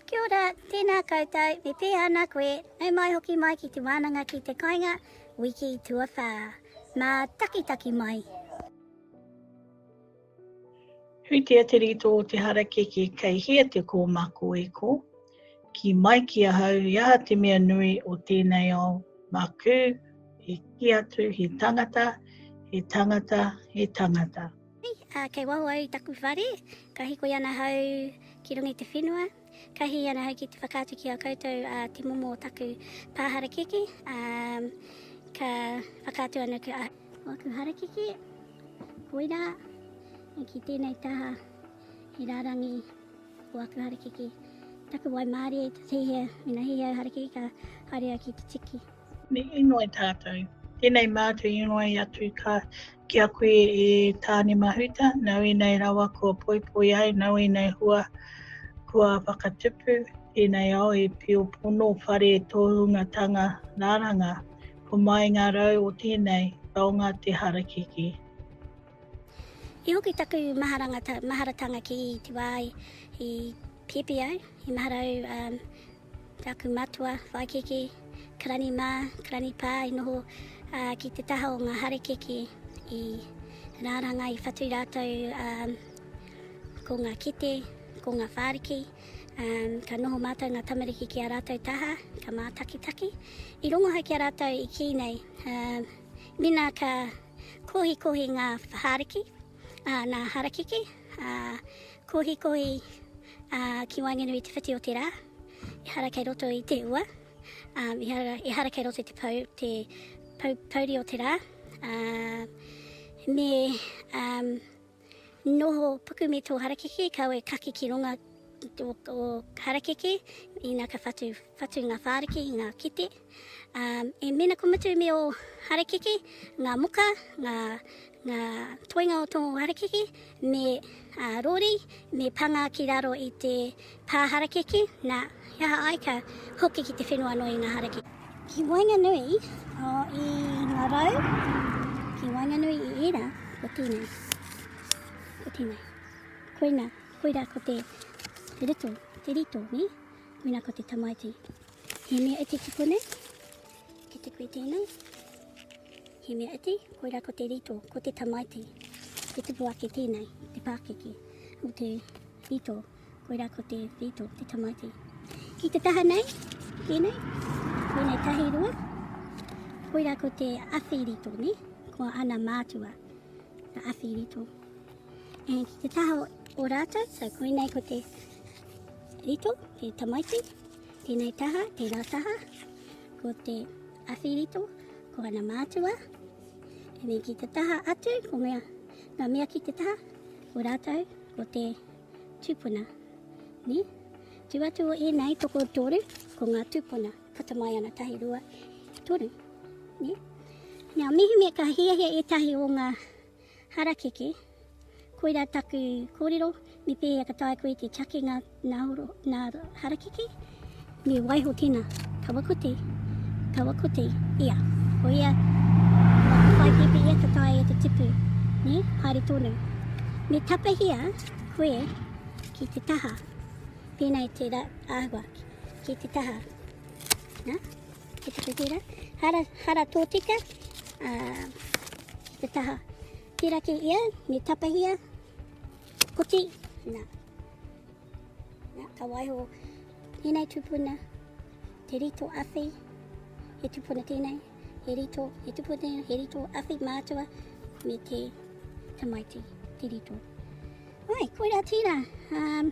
Kia ora, tēnā koutou, me pēhea ana koe, nau mai hoki mai ki te wānanga ki te kainga, wiki tuawhā. Mātakitaki mai! Hui te aterito o te harakeke kei hea te kōmako e ko? Ki mai ki ahau i aha te mea nui o tēnei ao makū he kī atu he tangata, he tangata, he tangata. Hei, kei waho au i taku whare, ka hikoi ana hau ki runga i te whenua, ka hihi ana hau ki te whakaatu ki a koutou a te momo o taku pā harakeke, a, ka whakaatu ana ki a aku harakeke, koira, e ki tēnei taha, he rārangi o aku harakeke, taku wai mārie, te hihia, mena hihia au harakeke, ka haere au ki te tiki. Me inoi tātou. Tēnei mātou inoi atu ka ki a koe e Tāne Mahuta, nau inei rawa kua poipoi ai, nau inei hua kua whakatupu, tēnei ao e pio pono whare tōhungatanga rāranga, ko mai ngā rau o tēnei taonga te harakeke. I hoki taku maharatanga ki te wā i pēpi au, i mahara au um, Taku matua, whaikiki, karani ma, karani pa i noho ki te taha o nga harekeke i raranga i whatu ratou ko nga kite, ko nga whariki, ka noho matou nga tamariki ki a ratou taha, ka matakitaki. I rongo hai ki a ratou i ki nei, mina ka kohikohi nga whariki, Ā, nā Harakeke, ā, Kohikohi, ā, ki waenganui i te whiti o te rā, ehara kei roto i te ua, ā, ehara, ehara kei roto i te pau, te pau, pauri o te rā, ā, me, ā, noho puku me tō Harakeke, kaua e kake ki runga o, o Harakeke, ina ka whatu, whatu ngā whāriki, ngā kete. E mēnā kua mutu me ō harakeke ngā moka, ngā, ngā toenga o tō harakeke, me rori, me panga ki raro i te pā harakeke, nā, he aha ai ka hoki ki te whenua noa i ngā harakeke. Ki waenganui i ngā rau, ki waenganui i ērā, ko tēnei, ko tēnei. Koina, koira ko te, te ruto, te rito, nē? Koina ko te tamaiti. He mea iti tupu nei, ki te kui tēnei. He mea iti, koirā ko te rito, ko te tamaiti. Te tupu ake tēnei, te pākiki, o te rito, koirā ko te rito, te tamaiti. Ki te taha nei, tēnei, tēnei tahi rua, koirā ko te awhi rito, ne? ko ana mātua, te awhi rito. E, ki te taha o rātou, so koinei ko te rito, te tamaiti, Tēnei taha, tērā taha, ko te awhirito, ko ana mātua. And then ki te taha atu, ko mea, ngā mea ki te taha, ko rātou, ko te tūpuna. Ni? Tu atu o ēnei, toko toru, ko ngā tūpuna. Puta mai ana tahi rua, toru. Ni? Now, mihimi ka hiahia ētahi o ngā Harakeke, koirā taku kōrero, me pēhea ka taea koe te take ngā, ngā, ngā harakeke? Me waiho tēnā, kawa kote, kawa kote, ia, koia, kua whai pepe ia ka taea e te tipu, ne, haere tonu. Me tapahia koe ki te taha, pēnei te ra, āhua, ki te taha, nā? He whakatira, hara, hara tōtika, ā, ki te taha tiraki ia, me tapahia, koti, nā. Nā, ka waiho tēnei tupuna, te rito awhi, he tupuna tēnei, he rito, he tupuna tēnei, he rito awhi mātua, me te tamaiti, te rito. Ai, koira tira. Um,